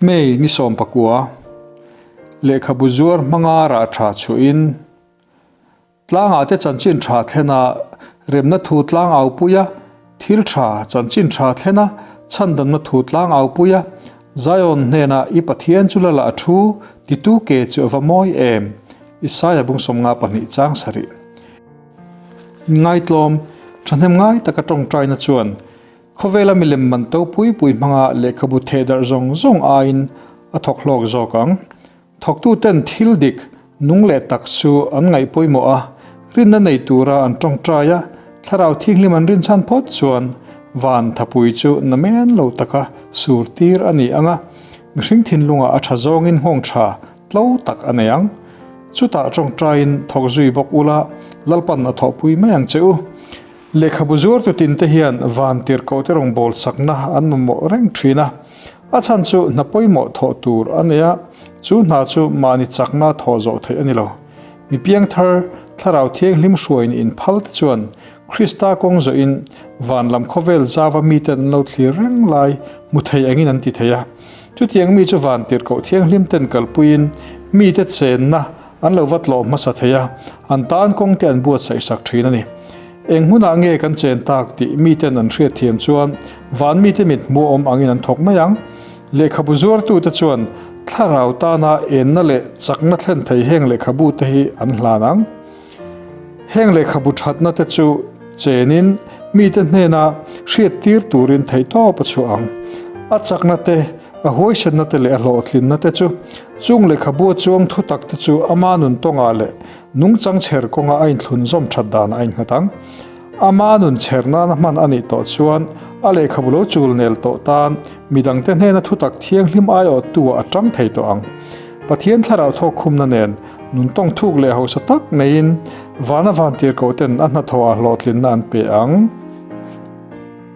May ni sawmpakua, lehkhabu zuar hmanga rah tha chuhin tlangah te chanchin tha thlen a, remna thu tlang aupui a, thil tha chanchin tha thlen a, chhandamna thu tlang aupui a, Zion hnena i Pathian chu la la a thu ti tu ke chu a va mawi em? Isaiah bung sawm nga pahnih chang sarih. Inngaitlawm, thahnem ngai taka tawngtaina chuan Khawvela milem man to pui pui hmanga lehkhabu thehdarh zawng zawng aiin a thawk hlawk zawk ang. Thawktu ten thil dik, nung leh tak chu an ngaih pawimawh a, rinna nei tura an tawngtai a, thlarau thinghlim an rin chhan phawt chuan van thapui chu na men lo taka sur tir a ni ang a, mihring thinlunga a tha zawngin nghawng tha tlo tak a nei ang. Chutah tawngtaiin thawk zui bawk ula Lalpan a thawh pui mai ang che u. Lehkhabu zuartu tinte hian van tirhkohte rawn bawlsakna an mamawh reng ṭhin a, a chhan chu hna pawimawh thawh tur a nei a, chu hna chu mahni chakna thawh zawh theih a ni lo. Mi piangthar, thlarau thianghlim hruai ni in phal te chuan Krista kawng zawhin van lam khawvel zava miten an lo thlir reng lai hmu thei angin an ti thei a. Chutiang mi chu van tirhkoh thianghlim ten kalpuiin mite chenna An lo va tlawh hmasa thei a, an tan kawng te an buatsaih sak thin a ni. Eng hmunah nge kan chen tak tih mite'n an hriat thiam chuan van mite mit hmuhawm angin an thawk mai ang. Lehkhabu zuartute chuan thlarau tana enna leh chakna thlen thei heng lehkhabu te hi an hlan ang. Heng lehkhabu thatna te chu chenin mite hnena hriat tir turin theihtawp a chhuah ang. A chakna te a huaisenate leh a hlawhtlinnate chu chung lehkhabua chuang thutakte chu ama nun tawngah leh nungchang chher kawnga a inthlun zawm that danah a inghat ang. Ama nun chher nana hman a nih tawh chuan a lehkhabu lo chul nel tawh tan midangte hnena thutak thianghlim aiawttua a ṭang thei tawh ang. Pathian thlarau thawk khumna nen nun tawng thuk leh hausa tak neiin vana vantirkoten a hnathawha hlawhtlinna an pe ang.